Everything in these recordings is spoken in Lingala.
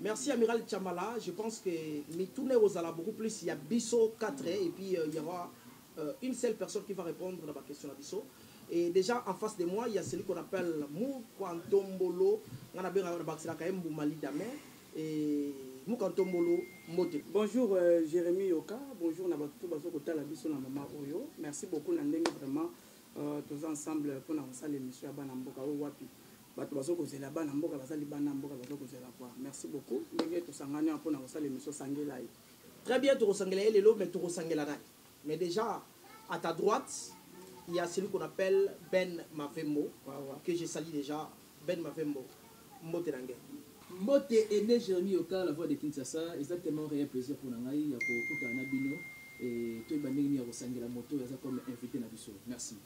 Merci Amiral Tshamala, je pense que mituna ekozala beaucoup plus ya biso 4 et puis euh, il y aura euh, une seule personne qui va répondre na ba question na biso. Et déjà en face de moi, il y a celui qu'on appelle Mukwantombolo, on a bien bakisela ka mbuma lidame et Mukwantombolo mbote. Bonjour euh, Jérémy Yoka, bonjour na ba tout bazo kotala biso na mama oyo. Merci beaucoup na ndenge vraiment euh, tous ensemble pour na salle émission ya bana mboka o wapi. bato bazo kozela bana mboka baza libanda ya mboka bazo kozela kwa merci beaucoup ndenge tosangani awa mpona kosala emission sangela ye très bien tokosangela ye lelo mais tokosangela nani mais déjà à ta droite il y a celui qu'on appelle Ben Mavembo que je salue déjà Ben Mavembo mbote na ngai mbote ene Jérémy Yoka la voix de Kinshasa exactement réel plaisir mpona ngai ya kokutana na bino et toyeba ndenge nini ya kosangela moto oyo aza comme invité na biso merci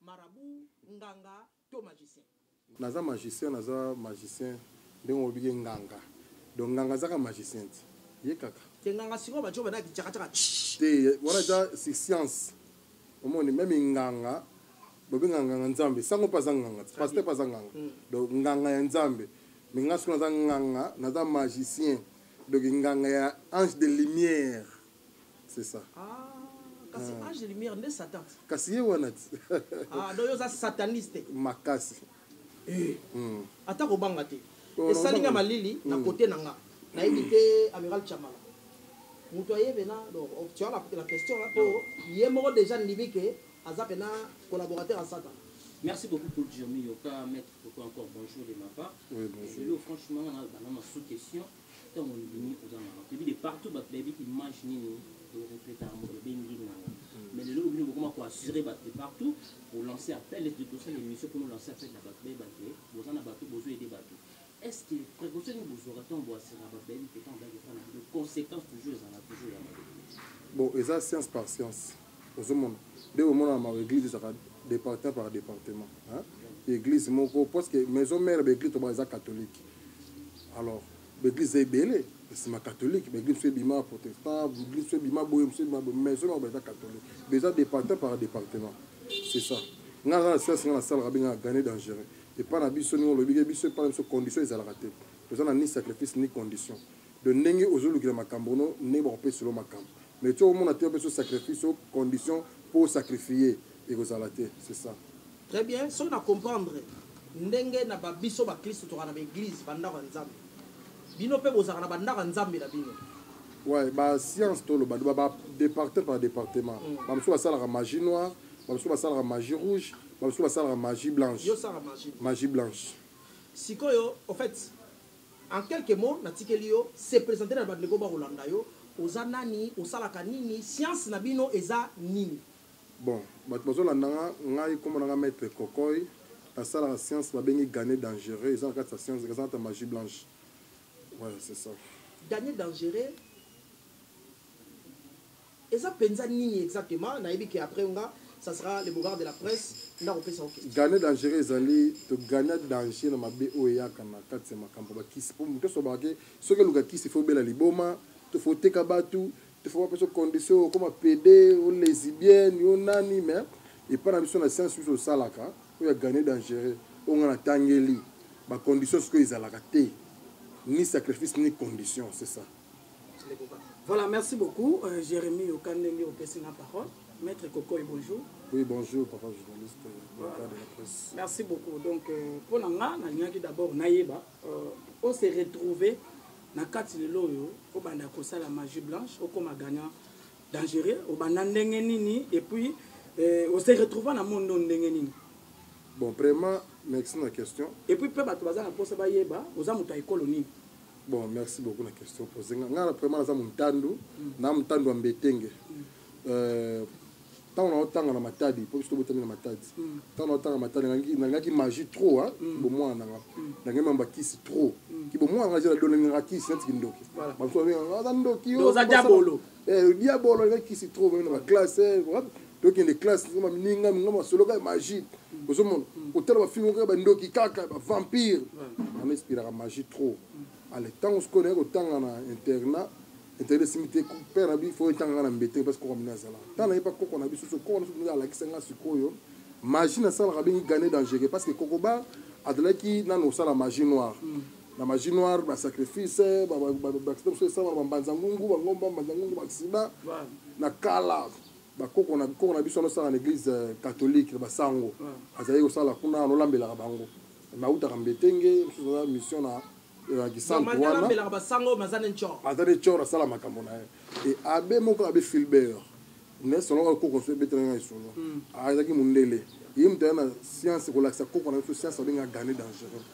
Marabout, nganga to magicien? Naza magicien, naza magicien ndenge olobi ke nganga donc nganga azaka magicien ti ye kaka te nganga sikoyo bajo bana bicakacaka te wana eza science omoni meme nganga bobenga nganga nzambe sango mpe aza nganga te paster mpe aza nganga mm. donc nganga ya nzambe me nga sikoyo naza nganga naza magicien donc nganga ya ange de lumière c'est ça ah, kasi ah. ange lumière nde satan kasi ye wana ti ah, do yo oza sataniste makasi eh. mm. ata kobanga te oh, esali nga malili na kote mm. na nga nayebi te amiral chamala moto ayebe na donc oh, tu as la, la question là po ye moko déjà ndimi ke aza pena collaborateur ya satan Merci beaucoup pour Jeremy Yoka, maître Pourquoi encore bonjour de ma part. Oui, bonjour. Et, franchement, on a, on a sous-question. ntango ondimi oza mawa toyebi de partout bato bayebi image nini orefleta yango ebengi nganga mais lelo obino bokoma koassure bato de partout kolancer appel ete tosala émission mpona olancer appel na bato bayeba te boza na bato bozo ede bato est ce que précaution nini bozwaka ntango boassuraka bato bayebi te ntango bayebi epai na bino conséquence toujours ezala toujours ya mabe bon eza science par science ozomona nde bomona na mawa eglise ezaka departement par departement eglise moko parce que maison mère ba eglise toba eza catholique alors ba eglise eza ebele nsima catholique ba eglise mosusu ebima protestant ba eglise mosusu ebima boye mosusu ebima boye maison mère ba eza catholique ba eza departement par departement c'est ça nga aza na siasi nga nasalaka bengaka gane dangereux epai na biso ndenge olobi ke biso epai na biso condition ezalaka te toza na ni sacrifice ni condition Donc ndenge ozo lukela makambo no ndenge bako pesa lo makambo mais ti oko mona te opesa sacrifice o condition po o sacrifier eko zala te c'est ça. Très bien soki na comprendre ndenge na ba biso ba klisto tozalaka na ba eglise ba ndako ya nzambe bino pe bozalaka na ba ndako ya nzambe na bino. Ouais ba science to loba loba ba departer par departement mm. ba mosusu ba salaka magie noire ba mosusu ba salaka magie rouge ba mosusu ba salaka magie blanche yo salaka magie magie blanche sikoyo au fait En quelques mots natikeli yo se presenter na ba ndeko bako landa yo oza nani osalaka nini science na bino eza nini. Bon batu bazo landa nga ngai kombo na nga maitre kokoy na salaka science ba bengi gane dangereux eza na kati ya science eza nata magie blanche ouais c'est ça. Gane dangereux. Eza penza nini exactement nayebi que après nga ça sera le beaugard de la presse nde akopesa yo question. Gagner dangereux ezali to gagner danger na mabe oyo eyaka na kati ya makambo ya bakisi po moto nionso alobaka ke soki oluka kisi il faut obela liboma to faut oteka batu to faut bapesa yo condition okoma pede o lesibienne yo nani mais epa na biso na science biso tosalaka oyo ya gagner dangereux oyo nga natangeli ba conditions sikoyo ezalaka te ni sacrifice ni condition c'est ça. Voilà, merci beaucoup. Euh, Jérémy Okandenge, opesi na parole. Maître Cocoy, bonjour. Oui, bonjour, papa journaliste, euh, voilà. de la presse. Merci beaucoup. Donc, euh, pour Nanga, Nanyaki d'abord, Naïba, euh, on s'est retrouvé na kati lelo oyo obanda kosala magie blanche okoma gagnant dangereux obanda ndenge nini et puis euh, ose retrouva na monde no ndenge nini bon vraiment merci na question et puis mpe bato baza na mposa bayeba oza moto ya ekolo nini Bon, merci beaucoup na question posée. Nga na vraiment naza muntandu, mm. na muntandu ambetenge. Mm. Euh ntango naotanga na matadi mpo biso tobotami na matadi mm. ntango naotanga matadi nangaki magie trop a mm. bomwana nanga mm. nangai mamba kisi trop kibomwana ngai zela donengaka kisi neti kindoki bamosuaza ndoki oza jabolo Eh, diabolo eza kisi trop vraiment na classe eh, tokende classe ma ninga minga masoloka ya magie ozomona kotala bafilme kaka bandoki kaka bavampire ana espiraka magie trop ale ntango sikoyo naye kotanga na internat intérêt esimi te père na bi fo etanga nga na mbete parce koko mina azala ntango naye pa koko na biso so koko na biso ndenge alakisa nga sikoyo magie nasalaka bengi gane dangereux parce que kokoba azalaki nano osala magie noire mm. na magie noire ba sacrifice ba ba ba ba biso esama na bambanza ngungu bangomba mbanza ngungu baksida na kala bakoko na bikoko na biso anosala na église euh, catholique na basango azali kosala kuna anolambelaka bango nautaka mbetenge mosusu aza mission na na kisantu wana aza ne cor asala makambo na ye e abe moko abe filbert Mais salon oyo koko so ebetela nga lisolo. Ah ezaki mundele. Ye mutu aya na science kolakisa koko na biso science babenga gane dangereux.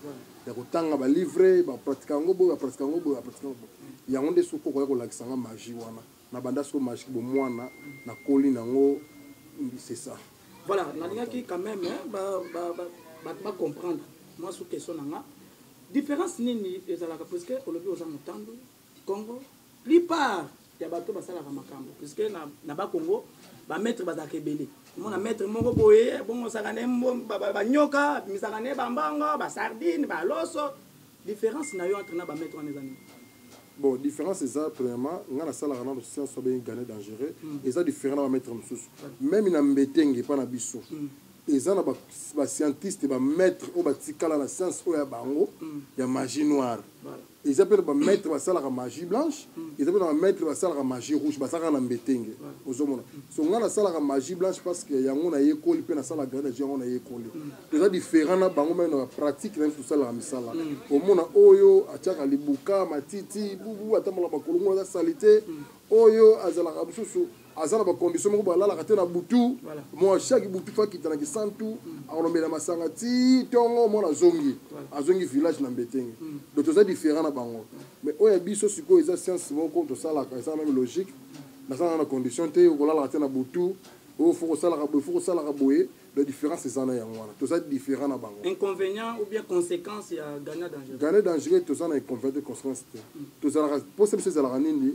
Ya kotanga ba livre ba pratique yango boye ba pratique yango boye ba pratique yango boye. Yango nde siko koko aya kolakisa nga magie wana. Na banda siko magie bo mwana na koli na ngo c'est ça. Voilà na lingaki quand meme ba ba ba batu ba comprendre mwa sous question na nga. Difference nini ezalaka puisque olobi oza mutandu. Congo plupart ya bato basalaka makambo puisque na, na bakongo bamaître bazalaka ebele omona maître moko boye abongosaka ne banyoka abimisaka ne bambongo basardine baloso différence na yo entre na bamaître wana eza nini bon différence eza premièrement ngai nasalaka nano science oyo bengi gane dangereux mm. eza différent na bamaître mosusu meme na mbetenge epa na biso mm. eza na bascientiste bamaître oyo batikala na science oyo ya bango mm. ya magie noire voilà. eza mpe na ba maître basalaka magie blanche eza mpe na ba maître basalaka magie rouge basalaka na mbetenge ozomona so ngai nasalaka magie blanche parce que yango nayekoli mpe nasalaka grande magie yango nayekoli toza différent na bango meme na ba pratique na biso tosalaka misala omona oyo atiaka libuka matiti bubu atambolaka makolo ngo aza salite oyo azalaka mosusu aza na ba condition moko balalaka te na butu mwa chaque butu fa kita na kisantu mm. akolomela masanga ti ntongo mwana azongi azongi village na mbetenge mm. donc toza différent na bango mais oyo ya biso sikoyo eza science moko tosalaka eza meme logique nazalaka na condition te okolalaka te na butu oyo fo kosalaka boye fo kosalaka boye la différence eza na yango wana toza différent na bango inconvénient ou bien conséquence ya gana dangereux gana dangereux toza na inconvénient te conséquence te mm. tozalaka mposa biso ezalaka nini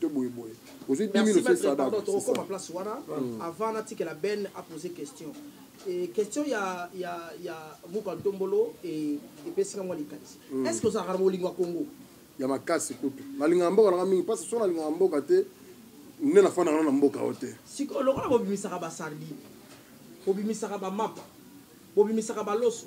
to boye boye ozwi 10000 pardon tokokoma place wana hmm. avant natikela ben apose question e, question ya ya ya muka ntombolo e, epesi nga mwa likanisi hmm. est ce que ozalaka na bolingo ya congo ya makasi kutu nalingaka mboka nanga mingi mpasi so nalingaka mboka te nde nafandaka no na mboka oyo te sikoyo lokola bobimisaka basardine bobimisaka bamapa bobimisaka baloso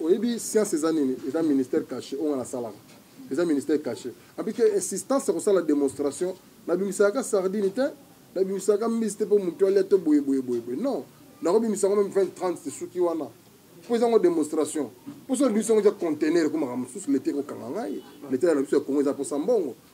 oyebi science eza nini eza ministère caché oyo nga nasalaka eza ministère caché abi te insistance ya kosala démonstration nabimisaka sardine te nabimisaka mbisi te mpo motu alia te boye boye boye boye non nakobimisa yango meme 20 30 esuki wana mpo eza yango démonstration mposo na biso yango eza contener ekomaka mosusu leta ekokanga ngai leta na biso ya kongo eza mposa mbongo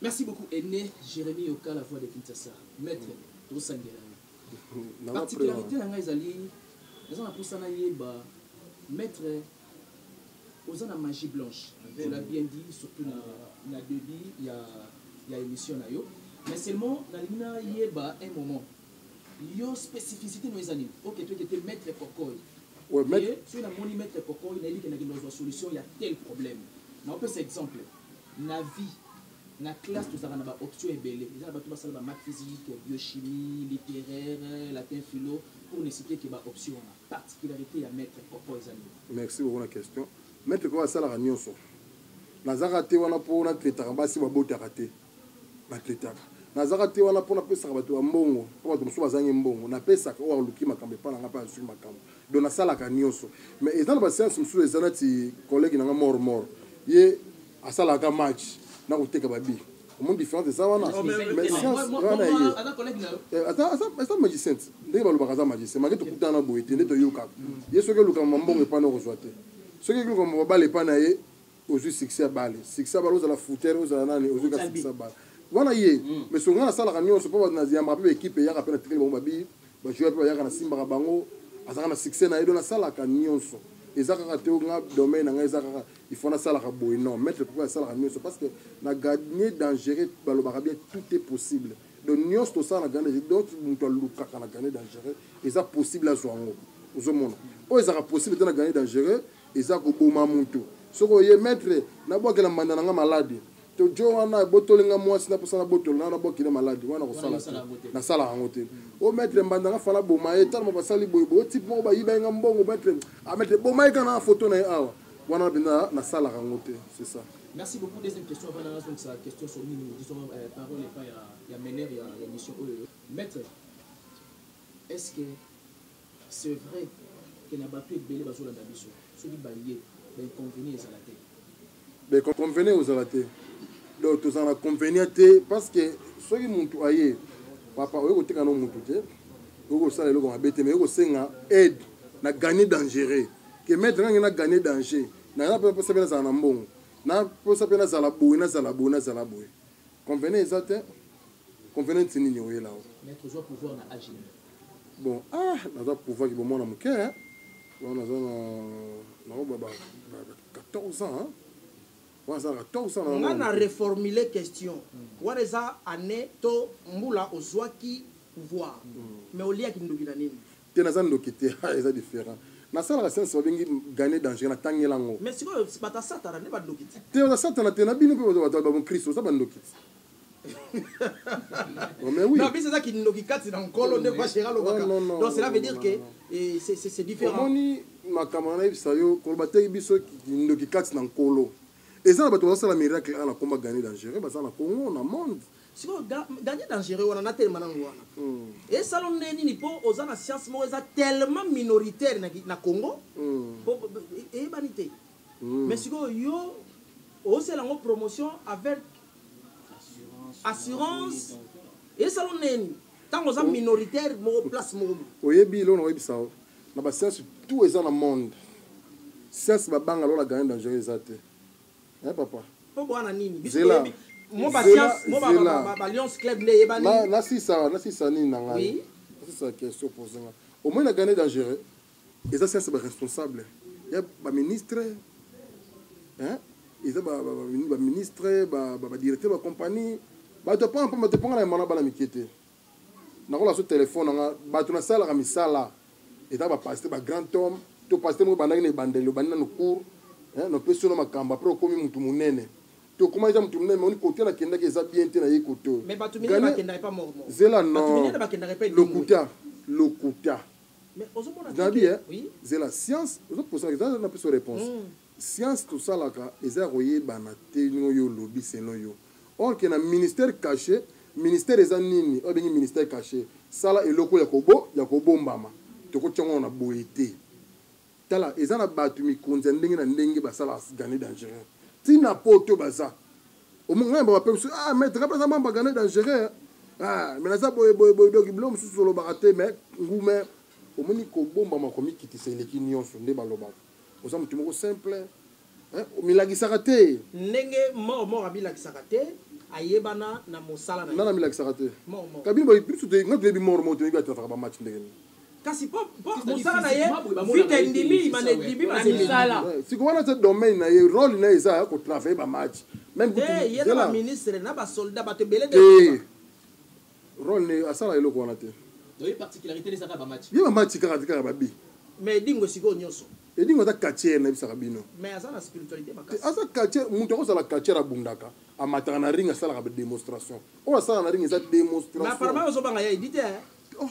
Merci beaucoup Aine Jeremie Yoka la voix de Kinshasa. Maître, tosangela yo. Particularité na ngai ezali naza na posa na yeba maître oza na magie blanche. Tu l'as bien dit surtout na na début ya ya émission na yo. Mais seulement nalingi na yeba un moment yo spécificité no eza nini? OK, tu étais maître Kokoy. Ouais, maître. Soki namoni maître Kokoy nayebi ke nakenda kozwa solution ya tel problème. Na opesa exemple. Na vie, na classe tozalaka na ba options ebele. Eza na batu basala ba maths physique, biochimie, literaire, latin philo pour ne citer que ba options wana. Particularite ya maitre Koko eza nini? Merci beaucoup na question. Maitre Koko asalaka nionso. Nazaka te wana po na traitaka basi babotaka te. Na traitaka. Nazaka te wana po napesaka batu ba mbongo po batu mosusu bazangi mbongo. Napesaka oyo aluki makambo epa na nga pe azui makambo. Donc nasalaka nioso mais eza na ba science mususu eza nati collègue nanga mort mort ye asalaka match na koteka ba bi omoni différence eza wana mais science wana ye eh, aza aza aza magicien ndenge balobaka aza magicien make tokutana na boye te nde toyokaka ye soki oluka mambongo epai na okozwa te soki oluka mababala epai na ye ozwi succès ya bale succès ya bale ozala footer ozala nani ozwi ka succès ya bale wana ye mais songa nasalaka nyonso mpo bato na yambaka mpe baekipe eyaka mpe natikeli bango babii ba joueur pe bayaka na simbaka bango azaka na succès na ye donc nasalaka nyonso eza kaka te nga domaine na ngai eza kaka il faut nasalaka boye non maître pourquoi asalaka nyonso parce que na gagner dangereux balobaka bien tout est possible donc nyonso tosala na gagner donc moto alukaka na gagner dangereux eza possible azwa yango ozomona oyo ezaka possible te na gagner dangereux eza koboma moto soki oye maître nabwakela mbanda na ngai malade to jo wana ebotoli nga mwasi na posa na botolo na na bwaki na maladi wana kosala te nasala yango te o maître mbanda nga fala boma ye talama basali boye boye type moko bayiba ye nga mbongo maître a ah, maître boma ye kana foto na ye awa wana na mpenza nasalaka yango te c'est ça merci beaucoup deuxième question avant nanga zongisa question sur nini disons euh, parole epai ya mener ya émission oyo maître est ce que C'est vrai que na batu ebele bazo landa biso soki baye ba inconvenient ezala te. Ba inconvenient ezala te. Donc tozala na convenient te parce que soki mutu aye papa oye koteka no mutu te oye kosala eloko mabe te mais oye kosenga aide na gagner dangereux ke maître ngange na gagner danger naza mpe mposa mpe nazala na mbongo naposa mpe nazala boye nazala boye nazala boye Convenant eza te. Convenant nini oyela o? Maître ozwa pouvoir na age nini? Bon, ah, naza pouvoir ki bo mwana moke. Bon, naza na na ba ba 14 ans. Hein? waza 14 ans. Nga na reformuler question. Mm. Wana eza année to mbula ozwaki pouvoir. Mm. Mais oliaki ndoki na nini? te naza ndoki te ha eza different nasalaka science babengi gane dangereux natangela yango mais sikoyo bato ya satana nde bandoki te te baza satana te na bino mpe bato bato ya bamokristo oza bandoki te oh, mais oui. Non, mais c'est ça qui nous qui casse dans le col, de quoi chéra le Donc cela veut dire que eh, c'est différent. Omoni makambo na yebisa yo koloba te biso kindoki kati na nkolo eza na bato bazosala miracle ana komba gane dangereux baza na congo na monde sikoyo gardien dangereux wana natelema nango wana mm. esala nde nini mpo oza na science moko eza tellement minoritaire na, na congo mm. po e, eyebani te mm. mais sikoyo yo osala yango promotion avec assurance esala nde nini ntango oza oh. minoritaire moko place moko oyebi eloko nakoyebisa yo na basiance tout eza na monde siance babanga lola gardien dangereux eza te eh papa po boa na nini biso toyebi mo ba science mo ba ba ba Lions club nde yebani na na sisa na sisa nini na ngai oui. na sisa question posée nga au moins na gagner dangereux eza science ba responsable ya ba ministre hein eza ba ba ba ministre ba ba directeur ba compagnie ba to pa pa to panga na mana bana mikete Nakola so telephone na nga batu na salaka misala eza ba pasteur ba grand homme to pasteur moko bandaki na ebandeli obandi nanu cour eh no pesi no makambo après okomi mutu munene to koma eza mutu munene mais kote na kendaki eza bien te na ye kote mais batu minene ba kendaki pa mort mort zela no batu minene ba kendaki pa lokuta lokuta mais ozo mona bien eh? oui zela science ozo posa na pesi réponse mm. Science tosalaka eza ya koyebana te ndenge yo olobi selon yo or que na ministère cache ministère eza nini oyo abengi ministère cache sala eloko ya kobo ya kobombama tokotia ngo awa na boye te tala eza na batu mikonzi ya ndenge na ndenge basala gane dangereux ti na poto baza omoni ngai mbaba pemsu ah mais ngai baza mamba gane dangereux ah mais naza boye boye boye donc bilo mosusu olobaka te mais ngume omoni kobombama komikitisa eleki nionso nde balobaka oza mutu moko simple hein omilakisaka te ndenge mort mort amilakisaka te ayebana na mosala na nana amilakisaka te kabini boye biso te nga toyebi mort mort toyebi atrafaka ba match ndenge nini kasi po mosala na ye vite endimi imana endimi masala siko wana te domaine na ye role na ye eza ya kotravaille ba match meme ye na baministre na basoldat bato ebele te Role ne asala eloko wana te. Donc ye particularité ne saka ba match. Ye ba match kaka te kaka ba bi. Mais Edingo sikoyo nyoso. Edingo aza catcheur na bisaka bino. Mais aza na spiritualite makasi. Te aza catcheur mutu ako zala catcheur abundaka amataka na ring asalaka ba demonstration. Oyo asala na ring eza demonstration. Mais apparemment ozo banga ya Eddy te hein. Oh.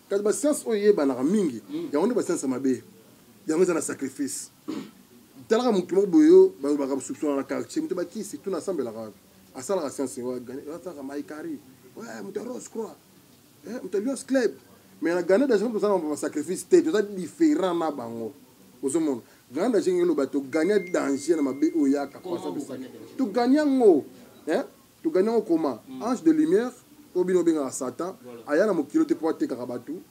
kasi basianse oyo eyebanaka mingi yango nde basianse ya mabe yango eza na sacrifice talaka motu moko boye yo balobaka bosupsona na quartier moto bakisi tuna asambelaka wapi asalaka sianse asalaka maikari moto ya rose croix eh, moto ya lions club mais na gana daje tozala na basacrifice te toza différent na bango ozomona gana daje ngelo bato gagna danger na mabe oyo yaka togagna yango eh? To gagner yango comment? Ange de lumière oyo bino bo bengaka Satan aya na mokili oyo te po atekaka batu,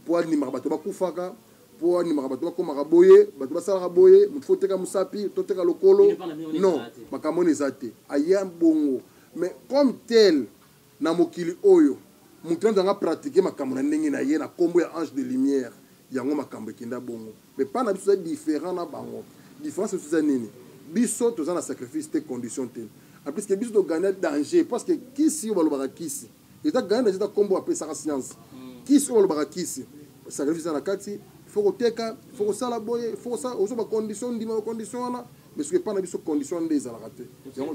po andimaka batu ba kufaka, po andimaka batu ba komaka boye, batu ba salaka boye, mutu faut oteka musapi, to teka lokolo. Non, makambo wana eza te. Aya bongo mais comme tel na mokili oyo mutu anzanga pratiquer makambo na ndenge na ye na kombo ya ange de lumière. yango makambo ekenda bongo mais pas na biso eza différent na bango différence biso eza nini biso toza na sacrifice te condition te en plus que biso togagna danger parce que kisi oyo balobaka kisi eza gagna danger eza nkombo apesaka science hmm. kisi oyo balobaka kisi sacrifice eza na kati faut koteka faut kosala boye faut kosala ozo bacondition ndima bacondition wana mais soki epai na biso condition wana nde ezalaka te yango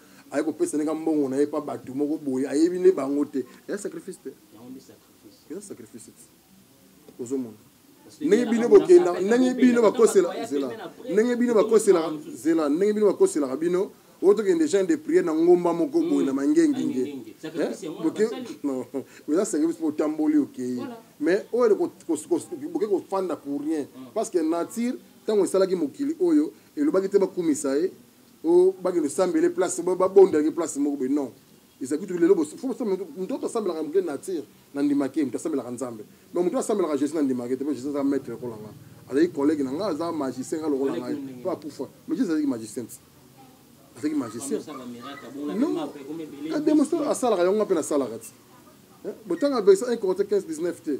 aye kopesa ndenge mbongo na ye mpa bato moko boye ayebi nde bango te eza sacrifice te eza sacrifice te ozomona ndenge bino bokenda ndenge bino bakosela zela ndenge bino bakoselaka zela ndenge bino bakoselaka bino oyo tokende genre de priere na ngomba moko hmm. boye na mangengenge eza sacrifice mpo otamboli okei mais oyo boke kofanda pour rien hmm. parce que nature ntango esalaki mokili oyo elobaki te bakumisa ye o bakende sambele place ba bonda ke place moko be non ezali kutu lelo bo faut samba mutu to samba la mke nature na ndima ke mutu samba la nzambe mais mutu samba la jesus na ndima ke te po jesus a maître ko langa azali collègue na nga aza magicien nga lokola ngai po akufa mais jesus azali magicien azali magicien non ka demonstration asalaka yango nga pe nasalaka ti eh, botanga verse 1 corinthiens 15 19 te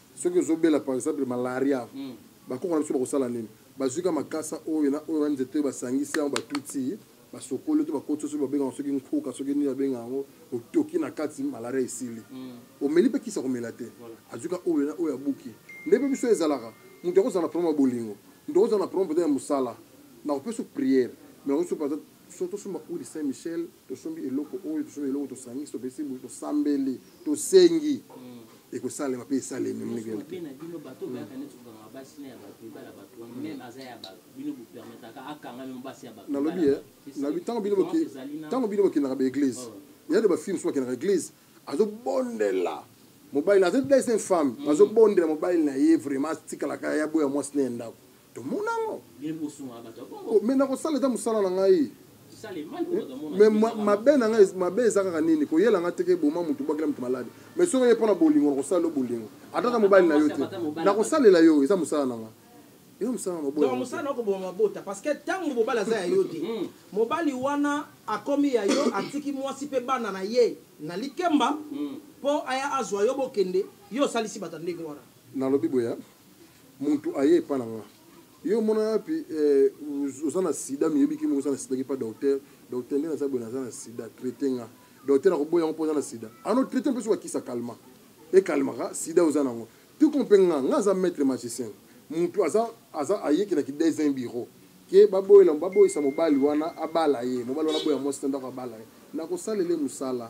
soki ozobela par exemple malaria mm. bakoko na biso bakosala nini bazwi ka makasa oyo na oyo na nzete oyo basangisi yango batuti basokoli to bakoti soki babengaka soki nkuka soki nini babenga yango otoki na kati malaria esili mm. omeli mpe kisa komela te azwi ka oyo na oyo abuki nde mpe biso ezalaka moto akozala na problème ya bolingo moto akozala na problème mpenza ya mosala nakopesa priere mais nakosupa Soki tosomba huile de Saint Michel, tosombi eloko oyo, tosombi eloko tosangisi, topesi butu, tosambeli, tosengi, hmm. ekosalema mpe esalemi ndenge wana. Mpe na bino bato oyo bayaka neti kokanga basi na ya bato, ebala bato wana, hmm. meme aza ya bato, bino bopermetaka akanga meme basi ya bato. Nalobi ye, eh, nalobi ntango bino boke, ntango bino bokendaka ba eglise, oh. ya de ba films bakendaka eglise, azobondela mobali na azo dai se femme, hmm. azobondela mobali na ye vraiment atikalaka ya boya mwasi na ye ndako. tomona yango oh, me nakosala eza mosala na ngai me mabe na ngai mabe eza kaka nini koyela ngai teke boma motu bwakela motu maladi me soki oye mpo na bolingo nakosala yo bolingo ata na mobali na yo te nakosalela yo eza mosala na ngai yo mosala maboya mosala na koboma mabota parce que ntango mobali aza ya yo te hmm. mobali wana akomi ya yo atiki mwasi mpe bana na ye na likemba mpo hmm. aya azwa yo bokende yo osalisi bato ndenge wana nalobi boya Mutu aye epa na nga yo omona yapi eh, oza na sida miyebi ki moko oza na sida ki pa docteur docteur nde naza boye naza na sida traite nga docteur akoboya ngo po oza na sida ano traite mpe soki akisa kalma e kalmaka sida oza na ngo tu kompe nga nga aza maître magicien mutu aza aza ayeki na ki desin bureau ke baboyela baboyisa mobali wana abala ye mobali wana aboya mwasi na ndako abala ye nakosalele musala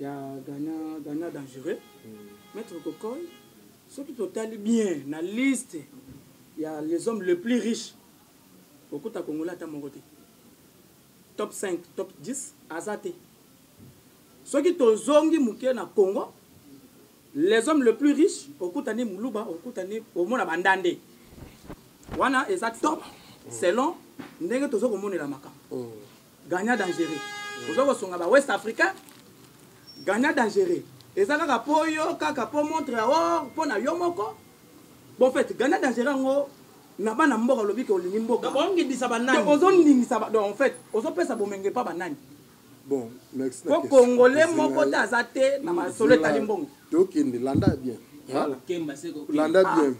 ya gana gana dangereux maître kokoy soki totali bien na liste ya les hommes le plus riche okuta kongola ata moko te top 5 top 10 aza te soki tozongi moke na congo les hommes le plus riche okuta nde moluba okuta nde omona bandande wana eza top selon ndenge toza komonela makambo mm. gagnant dangereux oza kosunga ba west africain gagnant dangereux eza kaka mpo yo kaka mpo montre ya or mpo na yo moko bon fait gagnant dangereux yango na bana mboka olobi ke olingi mbokaozondingisa donc en fait ozopesa bomenge mpa banani bon next po congolais moko te aza te na masolo etali mbongo tokende landa bien landa bien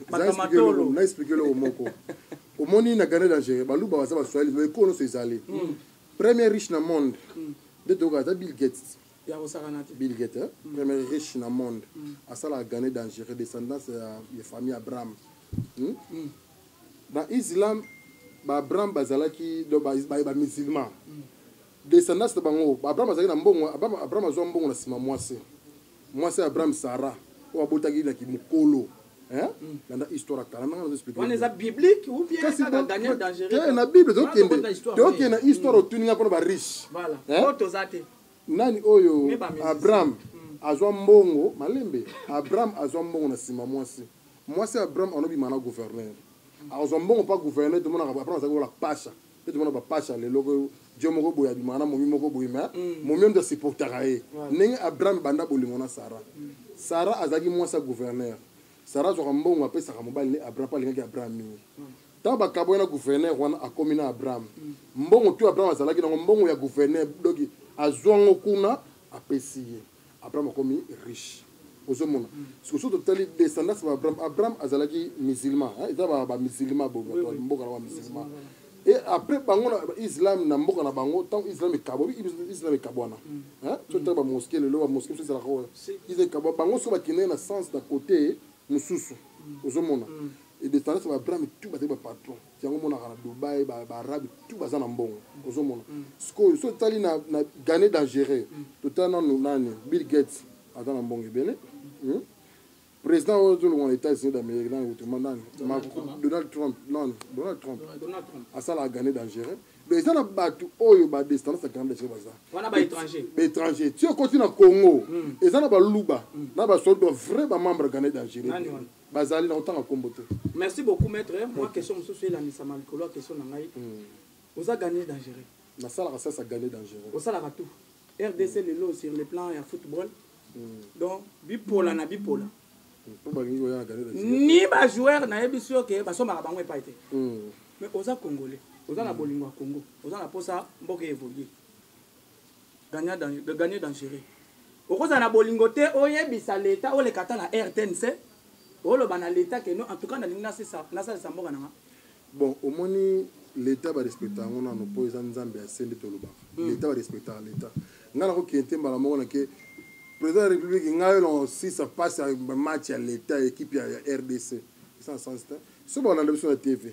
na explike eloko moko omoni na grande dangereux baluba baza baswahili mais ekolo nyonso ezali mm. premier riche na monde mm. nde toyoka ata bill gates bill gates eh? mm. premier riche na monde mm. asalaka grande dangereux descendance ya, ya famille abraham hmm? mm. na islam baabraham bazalaki bamusulman ba, ba, ba mm. descendance na bango baabraham azalaki na mbongo abraham azwa mbongo na nsima mwasi Mwasi ya Abraham Sarah oyo abotaki ye na kimokolo hein hmm. landa histoire ya kala ndanga nazoexplike wana eza biblique ou bien kaka daniel dangereux te eh, na bible tokende tokende na histoire hmm. otuni nga mpona bariche voilà oyo oh, toza te nani oyo abraham hmm. azwa mbongo malembe abraham azwa mbongo na nsima mwasi mwasi ya abraham anobima na gouverneur azwa mbongo mpa gouverneur tomonaka abraham azali kola pasha mpe tomona bapasi ya lelo oyo jo moko boye abimaka na momi moko boye ma mm. momi oyo ndasupportaka ye ndenge abraham banda bolingo na sara mm. sara azalaki mwasi ya gouverneur sara azwaka mbongo apesaka mobali ne abraham mpo alingaki abraham mingi mm. ntango bakabwaki na gouverneur wana akomi na abraham mbongo tu abraham azalaki nango mbongo ya gouverneur doki azwango kuna apesi ye Abraham akomi riche. Ozo mona. Siko soki totali descendance ba Abraham, Abraham azalaki musulman, hein, eza ba ba musulman bo oui, oui. mboka na ba musulman. Et après bango na Islam na mboka na bango, tant Islam ekabo, Islam ekabwana. Mm. Hein, soki tali ba mosquée lelo ba mosquée soki ezalaka oyo. Islam ekabo bango soki bakende na sens na côté mususu. Mm. Ozo mona. Mm. Et descendance ba Abraham tout bazali ba patron. yango monaka na dubai baarabe ba tu baza na mbongo ozomona mm. sikoyo so totali na, na gane dangereux mm. totali nanu nani bill gates aza na mbongo ebele mm. président oyo tolongo na états-unis d'amérique nani kutuma nani donald trump nani donald trump asalaka gane dangereux donc eza na bato oyo badescendance ya gane dangereux baza baétranger ti okoti na congo eza na baluba na basoldo vrai bamembre gane dangereux bazali na kotanga kombo te merci beaucoup maître mwa okay. question mosusu elandisama likolo ya question na ngai mm. oza gagné dangereux nasalaka sasa gagné dangereux osalaka tout rdc mm. lelo sur le plan ya football mm. donc bipola na bipola ni bajoueur nayebi sur ke basombaka bango epai te mm. mais oza congolais oza na mm. bolingo ya congo oza na mposa mboka evolue gagnant dangereux okozala na bolingo te oyebisa leta oleka ata na rtnc oloba na leta keno en tout cas nalingi nasalisa mboka na nga bon omoni leta barespecta yango nano mpo eza nzambe ya se nde tolobaka mm. leta barespectaka leta ngai nakokende te mbala moko nake président ya république ngai olongo sisa mpasi ya match ya leta ya ekipe ya rdc eza na sens te so baolanda biso na tv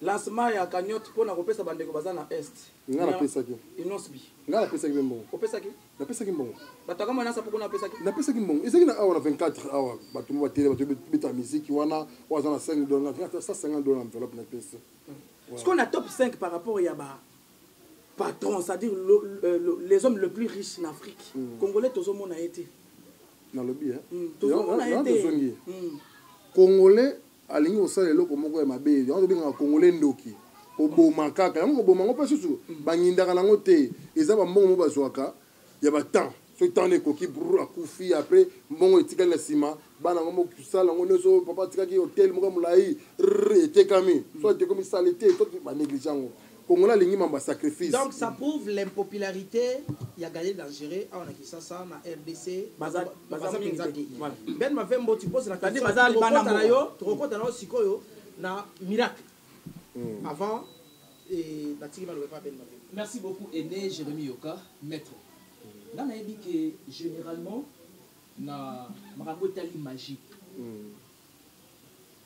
Lancement ya cagnotte pona kopesa ba ndeko baza na Est. Nga na pesaki. Innosbi. Nga na pesaki pe mbongo. Opesaki? Na pesaki mbongo. Bato kama na sapo kuna opesaki? Na pesaki mbongo. Ezaki na awa na 24 awa bato ba tele bato beta miziki wana oyo aza na 5 dollars na 150 dollars enveloppe na pesi. Hmm. Ce qu'on a top 5 par rapport ya ba patron, c'est-à-dire le, euh, le, les hommes le plus riches en Afrique. Mm. Congolais tozomona ye te. Nalobi hein. Mm. Tozomona ye te. Congolais alingi kosala eloko moko ya mabe yango tobengaka congolais ndoki koboma kaka yango koboma yango mpe susu bangindaka nango te eza bambongo mo bazwaka ya batemp soki ntango ekoki br akufi apres mbongo etikali na nsima bana yango mosala yango nyonso papa atikaki hotel moko ya molai r etekami so etekomi sale te to baneglige yango Congolais alingi mamba sacrifice. Donc ça prouve l'impopularité ya Gaël Dangereux awa na Kinshasa na RDC. Baza baza penza te. Ben Mavembo tu poses la question. Baza libana na yo, tokokota na yo sikoyo na miracle. Hmm. Avant et batiki balobe pas Ben Mavembo. Merci beaucoup Aîné Jérémy Yoka, maître. Nga nayebi que généralement na makambo etali magie. Hmm.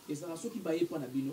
Ezala soki baye mpo na bino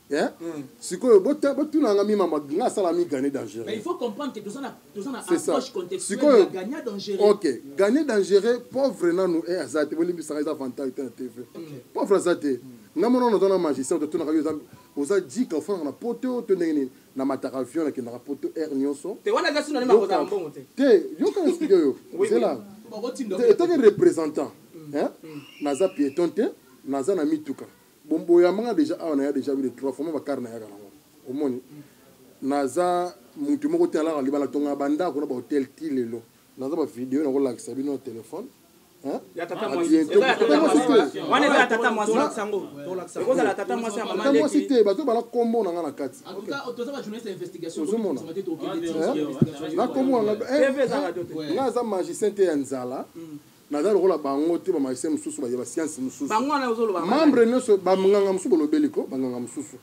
Eh? Mm. sikoyo botunanga mima nga asala mi gagne dangereusikoyo ok gagne dangereux pauvre nanu e aza te bolimbisaka eza avantage te na tv pauvre aza te nga mona ona tona magistrat totunaka yo oza jika ofandaka na poto to ndenge nini na mataka avion nakendaka poto aire nyonso te yoka explike yo zela etaki représentant mm. naza piéton te naza na mituka Bon boyamanga deja awa naya deja vile trois fois mwa bakar nayaka nango omoni naza mutu moko te alaka libala tongaka bandako na bahotel ti lelo naza bavideo nakolakisa bino na telefone mwasi te bato bala kombo na nga na kati ozomona na kombo nga aza magicien te ya nzala Naza lokola bango te ba magicien mususu ba science mususu. Membre nioso ba mnganga mususu bolobeli ko ba nganga mususu.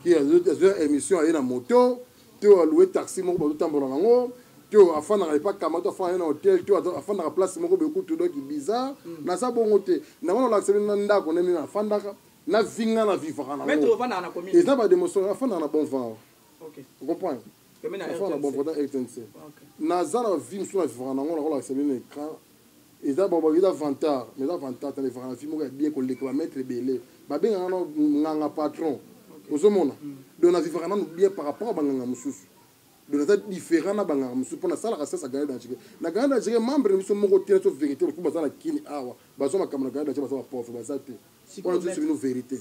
Ki azo emission aye na moto te a louer taxi moko bazo tambola na ngo te afandaka epa kama to afandaka na hotel te afandaka place moko be kutu donc bizarre. Mm. Naza bongo te. Nango na lakisa bino na ndako na mimi na fandaka na vinga na vivaka na ngo. Eza ba demoso afandaka na bon vent. okay. ocomprendre afana bon pendant rtnc naza na vie mosusu na vivaka nango nakolakisa bino na écran eza bababi eza vantard mais eza vantard tana evaka na vie moko ya bien koleka bamaitre ebele babengaka na nganga patron ozomona mm. donc na vivaka nano bien par rapport ya banganga mosusu donc naza différent na banganga mosusu mpo nasalaka sasa gane danjike na gane danjike membre na biso moko te naso vérité lokumu baza na kini awa bazwa makambo na gane danjike baza bapauvre baza te wana tosi bino vérité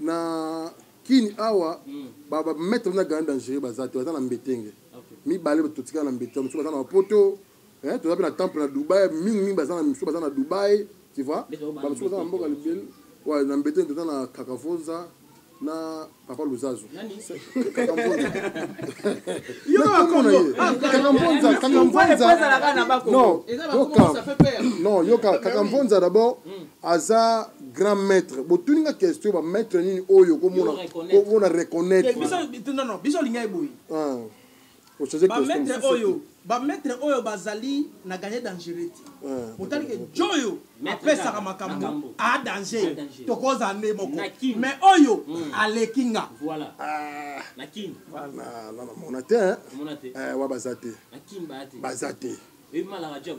Na kin awa ba ba maître na grand dangereux baza te baza na mbetenge. Mibale bato totikala na mbetenge mosusu baza na Poto eh toza pe na temple na Dubaï mingi mingi baza na mosusu baza na Dubaï tu vois ba mosusu baza na mboka libele ouais na mbetenge toza na Kakavonza na papa luzazu non yoka kakamvonza d'abord hmm. aza grand maître botuni nga question ba maître nini oyo komona komona reconnaître eh, biso non non biso linga eboyi ah ochange question ba maître oyo ba maître oyo bazali na gagner dangereux te ah, otali ke joyo apesaka makambo a danger tokoza nde moko mais oyo hmm. aleki nga voilà ah. na kin na na mona te hein eh wa baza te na kin ba te baza te e mala radio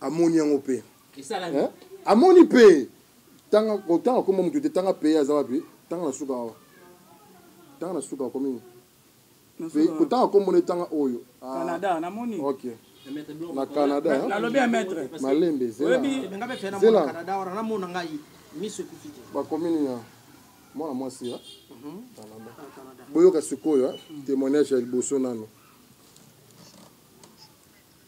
amoni yango mpe eh? amoni mpe tanga kotanga kombo moto te tanga peye aza wapi tanga na suka awa tanga na suka akomi kotanga kombo na etanga oyo ah. canada namoni ok na canada eh? nalobi ya maître malembe zela bakomi nini ah? mwana mwasi ya mhm. boyoka sikoyo eh? mhm. témoignage ya liboso nano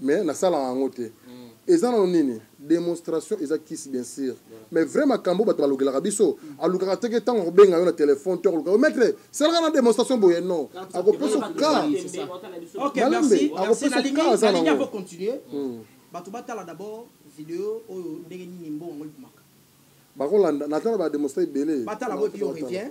mais na sala yango te eza nano nini demonstration eza kisi bien sûr mais vrai makambo bato balokelaka biso alukaka te ke ntango akobenga yo na telefone to akoluka yo maître salaka na demonstration boye non akopesa oka malembe akopesa oka aza nango hmm. bato batala d'abord video oyo ndenge nini mbongo yango ebimaka bakolanda natala bademonstration ebele batala boye puis on revient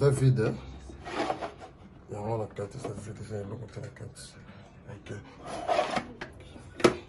eza vide yango na kati eza vide eza eloko te na kati ok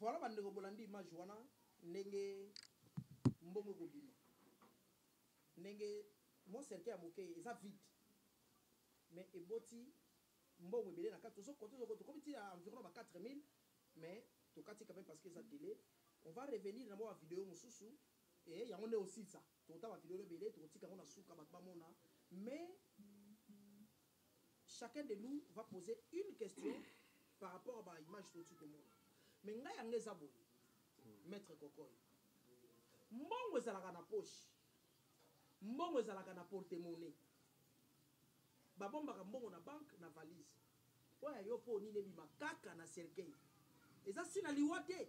Voilà bandeko bolandi image wana ndenge mbongo ekobima ndenge mwa cercueil ya moke eza vide mais eboti mbongo ebele na kati tozokote tozokote tokomi ti ya environ ba 4000 mais tokati quand même parce que eza délai on va revenir na mwa bavideo mosusu Eeh yango nde osilisa? Tokotala ba videos ebele tokotika yango na suka batu bamona mais chacun de nous va poser une question par rapport à ba images touti komona mais ngai yanga eza boye maitre kokoy mbongo ezalaka na poche mbongo ezalaka na porte monnaie babombaka mbongo na banque na valise Oyo ya yo po nini ebima kaka na cercueil? Eza si na liwa te?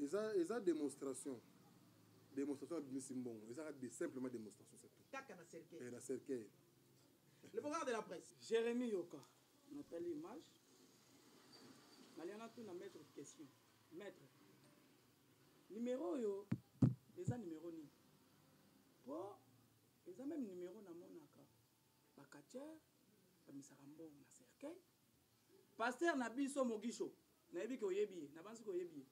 eza eza demonstration demonstration abimisi mbongo eza de simplement demonstration c'est tout kaka na cercueil eh, na cercueil le programme de la presse Jérémy Yoka natali image naliana tuna maître question maître numéro oyo eza numéro nini po eza meme numéro namonaka Ba catcheur bamesaka mbongo na cercueil. Pasteur na biso Mogisho, nayebi ke oyebi ye, nabanzi ke oyebi ye.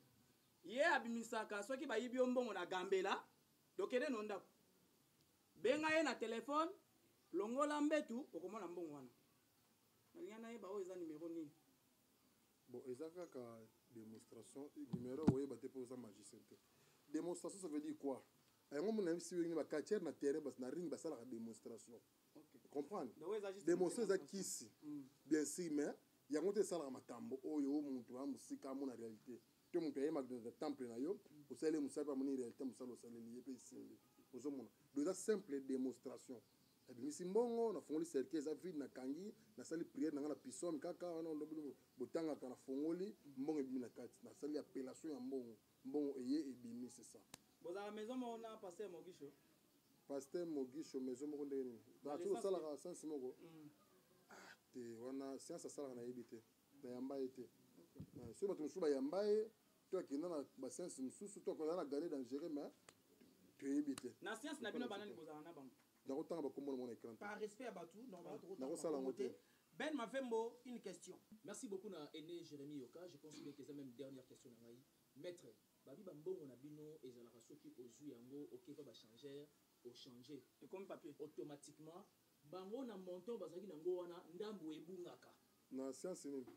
Ye abimisaka soki bayibi yo mbongo na Gambela, dokende no ndako. Benga ye na telephone, longola mbetu, okomona mbongo wana. Nalinga nayeba oyo eza numero nini. Bon, eza kaka demonstration, numero oyeba te po oza magicien te. Demonstration ça veut dire quoi? yango mona yebisi yo ba catcheur na terrain bas na ring basalaka démonstration comprendre démonstration eza kisi mm. bien si mais yango te esalaka makambo oyo o moto ya mosika amona réalité to moto ayemaka na temple na yo mm. osaleli mosala mpe amoni réalité mosala osaleli ye mpe esimbi ozomona do eza simple démonstration nabimisi mbongo nafongoli cercueil eza vide nakangi nasali priere na ngai na pisome kaka wana olobi botangaka nafongoli mbongo ebimi na kati nasali appellation ya mbongo Mbongo eye ebimi c'est ça. Bozalaka maison moko na pasteur Mogisho? Pasteur Mogisho maison moko ndenge nini? Na tiko salaka science moko. Mm. Ah te wana science asalaka na yebi te. Na yamba ye te. Okay. Soki bato mosusu bayamba ye to akenda na ba science mosusu to akozala na gane dangereux mais toyebi te. Na science na bino banani bozalaka na bango? Nako tanga ba kombo na mona ecran te. Par respect ya batu normalement toko tanga ba kombo te. Ben Mavembo une question. Merci beaucoup na aine Jeremie Yoka je pense bien que eza meme dernière question na ngai maitre babi ba mbongo na bino ezalaka soki ozui yango oke epa ba changer o changer ekomi papier automatiquement bango na montant bazalaki na ngo wana ndambu ebungaka na science nini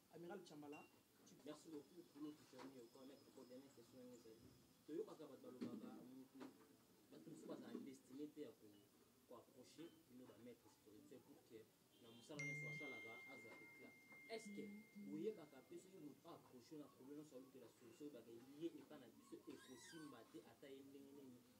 Amiral Tshambala, merci beaucoup pour notre journée au corps maître pour dernière question na ngai toyokaka bato balobaka mutu bato mosusu bazala destine mpe ya koapproche bino bamaître spirituel pour que na mosala nyonso asalaka azwa éclat est ce que boyebaka mpe soki moto aapproche na problème nyonso alukela solution oyebaka ye epa na biso ekosimba te ata ye ndenge nini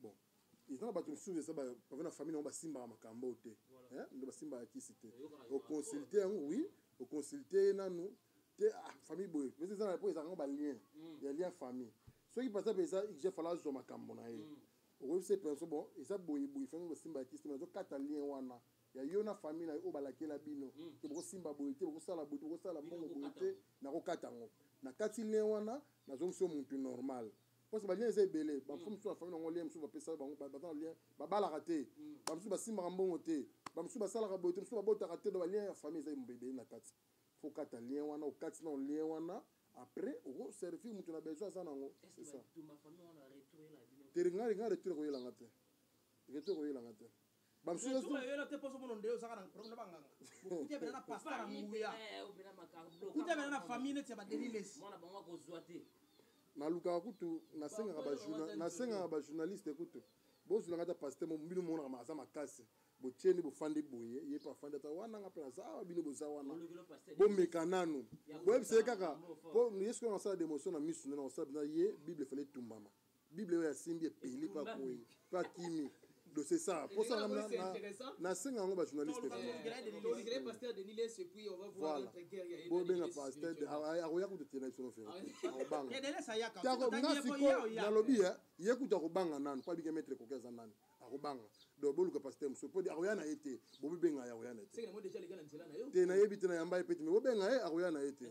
bon eza na bato mosusu eza bava na famille nango basimbaka makambo oyo te nde basimbaka kisi te oconsulte yango oui oconsulte ye nanu te ah, famille boye mais eza po ezalaka ngo balien mm. ya lien famille soki par exemple eza je fala azwa makambo na ye mm. okoyebisa penso bon eza boye boye fami basimbaka kisi te mais azokata lien wana ya yo na famille na yo oyo balakela bino mm. te bokosimba boye te bokosala boye te bokosala mbongo boye te nakokata yango nakati lien wana nazongisi yo muntu normal mm. parce balien eza ebele bamosusu mm. mosusu na famille nango lien mosusu bapesaka bango baza na lien babalaka te mm. bamosusu basimbaka mbongo te bamosusu basalaka boye te mosusu babotaka te do balien ya famille eza ebele na kati fo okata lien wana okati nao lien wana après okoservir moto na besoin aza nango teringa ringa retour ekoyelanga te retour ekoyelanga te bamosusu bayola te poso mono nde ozaka na problème na banganga okuti abela na pasta na nguya okuti abela na famille neti ya badelilesi mwana bango akozwa te nalukaka kutu nasengaka bajournaliste kutu bozwilanga ata paste bino monaka aza makasi botyeni bofandi boye ye mpe afandi ata wana nga mpe naza awa bino boza wana bomeka nanu boyebisa ye kaka mpo yesu kuna nasala demotion na misu nde nakosala mpena ye bible efali etumbama bible oyo asimbi epeli mpe akwei mpe akimi dossier ça pour ça na senga yango bajournaliste voilà bobenga pasteur akoya kutu tiena biso nofere akobanga nga sikoyo nalobi ye kutu akobanga nanu mpo abike maître koki aza nani akobanga donc boluka pasteur mosusu mpo akoya na ye te bobibenga ye akoya na ye te te nayebi te nayamba ye pete me bobenga ye akoya na ye te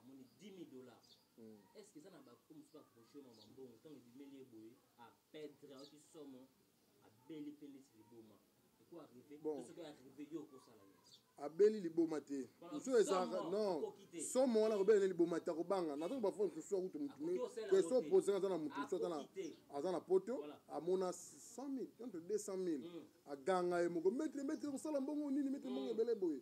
amoni 10000 dollars hmm. est ce que eza na ba oyo mosusu baproche ma bambongo ntango ebimeli ye boye apedre ayoki somo abeli mpe neti liboma abeli liboma te mosusu ezalaka non somo wana kobela ne liboma te akobanga na ntango bafoi mosusu akutu motu question opozaka aza na motu mosusu aza na poto amona 100000 entre 200000 aganga ye moko metre metre kosala mbongo nini metre mbongo hmm. ebele boye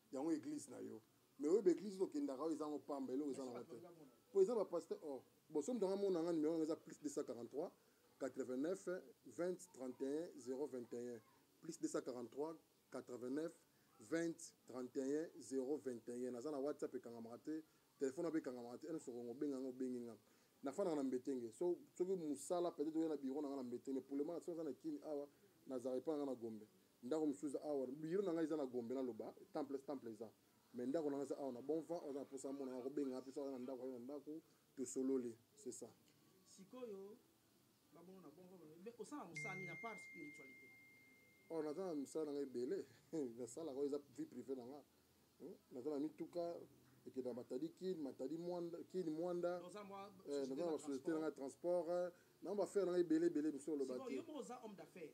yango eglise na yo mais oyo baeglise oyo okendaka oyo eza yango pamba eloko eza nango te mpo eza bapaster or oh, boso moto anga mona yanga numero yango eza plus 243 89 20 31 021 plus 243 89 20 31 021 naza na whatsapp ekangamaka te telefone ape ekangamaka te nyonso kongo obenga yango obengi nga nafandaka na mbetenge so soki mosala peut-être oya na biro na nga na mbetenge pour le moment soki aza na kini awa nazala epai na nga na gombe Ndako mosusu eza awa biro na ngai eza na Gombe na loba temples temple eza mais ndako na ngai eza awa na bon vent oza na posa amona ngai akobenga apesa oza na ndako ayo na ndako tosololi c'est ça sikoyo babono na bon vent osala mosala nini apart spiritualité or oh, naza na misala na ngai ebele nasalaka oyo eza vie privée na ngai hmm? naza na mituka ekenda matadi kin matadi mwanda kini mwanda naza eh, na basociété na ngai transport eh, na bafere na ngai ebele ebele biso oloba te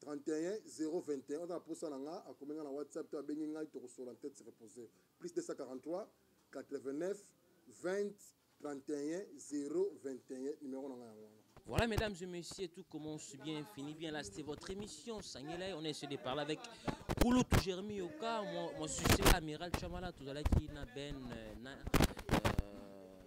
31 021 oza na posa na nga akomi nga na whatsapp to abengi ngai tokosola tete se repose plus 243 89 20 31 021 numéro na nga yango wana Voilà, mesdames et messieurs, tout commence bien, finit bien. Là, c'était votre émission, Sangelay. On a essayé de parler avec Kouloutou tout Jérémy Yoka, mon, mon succès, Amiral Chamala, tout à l'heure, qui n'a ben, euh,